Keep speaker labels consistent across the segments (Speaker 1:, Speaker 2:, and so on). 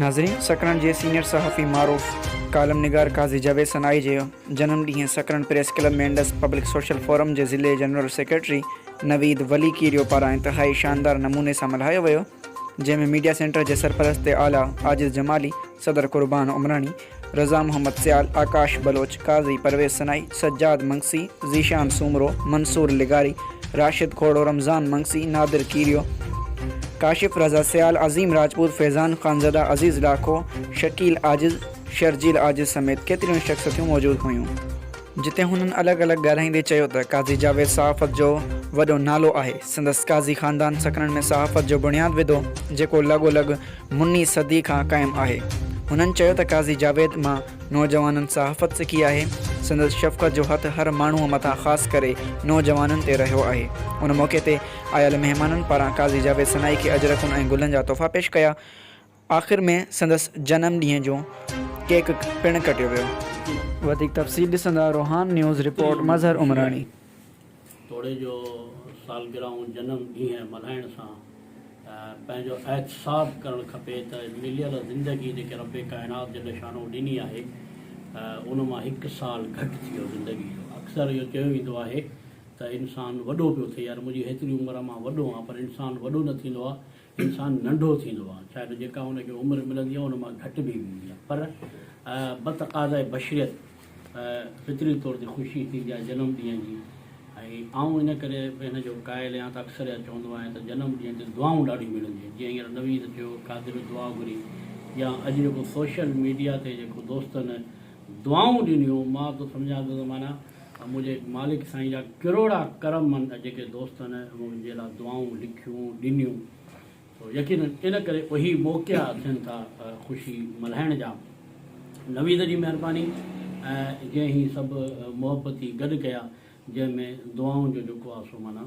Speaker 1: ناظرين! سڪرنڊ جي سينيئر صحافي معروف ڪالم نگار قاضي جاويد سنائي جي جنم ڏينهن Sakrand press club ۾ Indus public social forum جي ضلعي جنرل سيڪريٽري نويد ولي ڪيريو پاران انتهائي شاندار نموني سان ملهايو ويو جنهن ۾ ميڊيا سينٽر جي سرپرست اعليٰ عاجز جمالي، صدر قربان عمراڻي، رضا محمد سيال، آڪاش بلوچ، قاضي پرويز سنائي، سجاد منگسي، ذيشان سومرو، منصور لغاري، راشد کوڙو، رمضان منگسي، نادر کيريو، ڪاشف رضا سيال، عظيم راجپوت، فيضان خانزاده، عزيز لاکو، شڪيل عاجز، شرجيل عاجز سميت ڪيتريون ئي شخصيتون موجود هيون. جتي هنن الڳ الڳ ڳالهائيندي چيو ته قاضي جاويد صحافت جو وڏو نالو آهي، سندس قاضي خاندان سڪرنڊ ۾ صحافت جو بڻياد وڌو، جيڪو لڳو لڳ مني صدي کان قائم آهي. هنن چيو ته قاضي جاويد مان نوجوانن صحافت سکي آهي، سندس شفقت جو هٿ هر ماڻهو مٿان خاص ڪري نوجوانن تي رهيو آهي. ان موقعي تي آيل مهمانن پاران قاضي جاويد سنائي کي اجرڪون ۽ گلن جا تحفا پيش ڪيا. آخر ۾ سندس جنم ڏينهن جو ڪيڪ پڻ ڪٽيو ويو. وڌيڪ تفصيل ڏسندا روهان نيوز رپورٽ مظهر عمراڻي. توڙي
Speaker 2: جو سالگرهون جنم ڏينهن ملهائڻ سان پنهنجو احتساب ڪرڻ کپي ته مليل زندگي جيڪي رب ڪائنات جي لشانو ڏني آهي ان مان هڪ سال گهٽ ٿي ويو زندگي جو اڪثر اهو چيو ويندو آهي ته انسان وڏو پيو ٿئي يار منهنجي هيتري عمر مان وڏو آهان پر انسان وڏو نه ٿيندو آهي انسان ننڍو ٿيندو آهي شايد جيڪا هن کي عمر ملندي آهي ان مان گهٽ به هوندي آهي پر بتقاضائي بشريت فطري طور تي خوشي ٿيندي آهي جنم ڏينهن جي ۽ آئون ان ڪري به هن جو قائل آهيان ته اڪثر اها چوندو آهيان ته جنم ڏينهن تي دعائون ڏاڍيون ملنديون آهن جيئن هينئر نويد چيو قادر دعا گهري يا اڄ جيڪو سوشل ميڊيا تي جيڪو دوستن دعائون ڏنيون مان ته سمجهان ٿو ته معنيٰ ها منهنجي مالڪ سائين جا ڪروڙها ڪرم مند جيڪي دوستن منهنجي لاء دعائون لکيون ڏنيون سو يقينن ان ڪري اهي موقعا ٿين ٿا خوشي ملهائڻ جا نويد جي مهرباني ۽ جنهن هي سڀ محبتي گڏ ڪيا جنهن ۾ دعائون جو جيڪو آ سو معنيٰ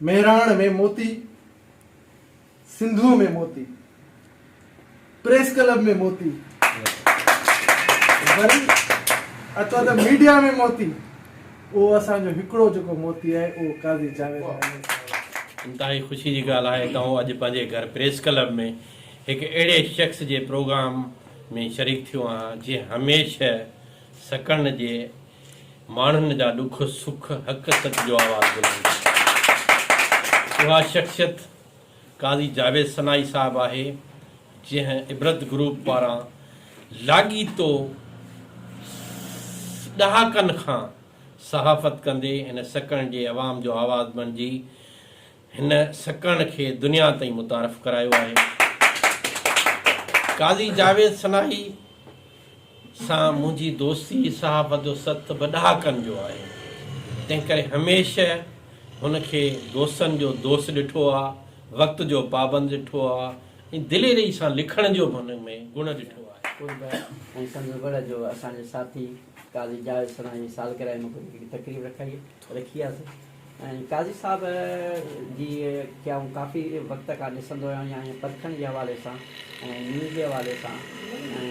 Speaker 3: مهراڻ ۾ موتي، سنڌوء ۾ موتي، پريس ڪلب ۾ موتي، وري اچو ته ميڊيا ۾ موتي، اهو اسان جو هڪڙو جيڪو موتي آهي اهو قاضي جاويد احمد صاحب آهي. انتهائي خوشي جي
Speaker 4: ڳالهه آهي ته آئون اڄ پنهنجي گهر پريس ڪلب ۾ هڪ اهڙي شخص جي پروگرام ۾ شريڪ ٿيو آهيان جنهن هميشه سڪڻ جي ماڻهن جا ڏک سک حق سچ جو آواز بلند ڪندي اها شخصيت قاضي جاويد سنائي صاحب آهي جنهن عبرت گروپ پاران لاڳيتو ڏهاڪن کان صحافت ڪندي هن سڪڻ جي عوام جو آواز بڻجي هن سڪڻ کي دنيا تائين متعارف ڪرايو آهي. قاضي جاويد سناحي سان منهنجي دوستي صحافت جو ست به ڏهاڪن جو آهي، تنهنڪري هميشه هن کي دوستن جو دوست ڏٺو آهي، وقت جو پابند ڏٺو آهي ۽ دليري سان لکڻ جو به هن ۾ گڻ ڏٺو آهي. قرب ۽ سندس وڙهه
Speaker 5: جو اسان جي ساٿي قاضي جاويد سناحي سالگرهه موقعي تي هڪ تقريب رکائي. رکي آهي ۽ قاضي صاحب جي کي آئون ڪافي وقت کان ڏسندو آهيان ۽ پرکڻ جي حوالي سان ۽ نيوز جي حوالي سان ۽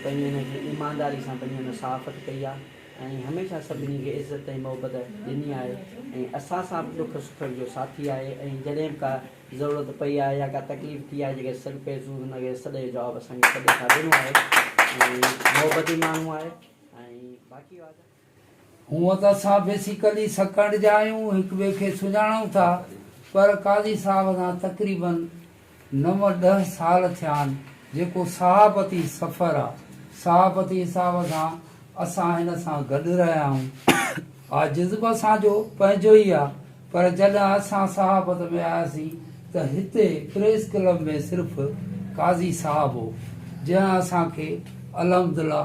Speaker 5: پنهنجي هن کي ايمانداري سان پنهنجي هن صحافت ڪئي آهي ۽ هميشه سڀني کي عزت ۽ محبت ڏني آهي ۽ اسان سان به ڏک سکن جو ساٿي آهي ۽ جڏهن به ڪا ضرورت پئي آهي يا ڪا تڪليف ٿي آهي جيڪي سڏ پئي سون هن کي سڏ جو جواب اسان کي سڏ سان ڏنو آهي ۽ محبتي ماڻهو آهي ۽ باقي وات هونئن ته
Speaker 6: اسان بيسيڪلي سڪنڊ جا آهيون، هڪ ٻئي کي سڃاڻون ٿا، پر قاضي صاحب سان تقريباً نو ڏهه سال ٿيا آهن، جيڪو صحافتي سفر آ، صحافتي حساب سان اسان هن سان گڏ رهيا آهيون. آ جذب اسان جو پنهنجو ئي آ، پر جڏهن اسان صحافت ۾ آياسين ته هتي پريس ڪلب ۾ صرف قاضي صاحب هو، جنهن اسان کي الحمدالله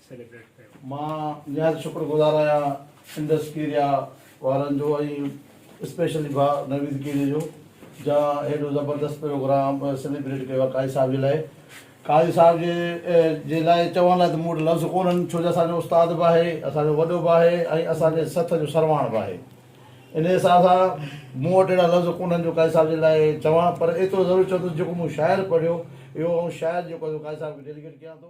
Speaker 7: سيليبريٽ ڪيو. مان نهايت شڪر
Speaker 8: گذار آهيان انڊس ڪيريا وارن جو ۽ اسپيشلي ڀاء نويد ڪيريا جو جنهن هيڏو زبردست پروگرام سيليبريٽ ڪيو آهي قاضي صاحب جي لاء قاضي صاحب جي لاء چوڻ لاء ته مون وٽ لفظ ڪونهن ڇو جو اسان جو استاد به آهي اسان جو وڏو به آهي ۽ اسان جي سٿ جو سرواڻ به آهي انهي حساب سان مون وٽ اهڙا لفظ ڪونهن جو قاضي صاحب جي لاء چوان پر ايترو ضرور چوندس جيڪو مون شاعر پڙهيو اهو آئون شاعر جيڪو آهي سو قاضي صاحب کي ڊيليڪيٽ ڪيان ٿو.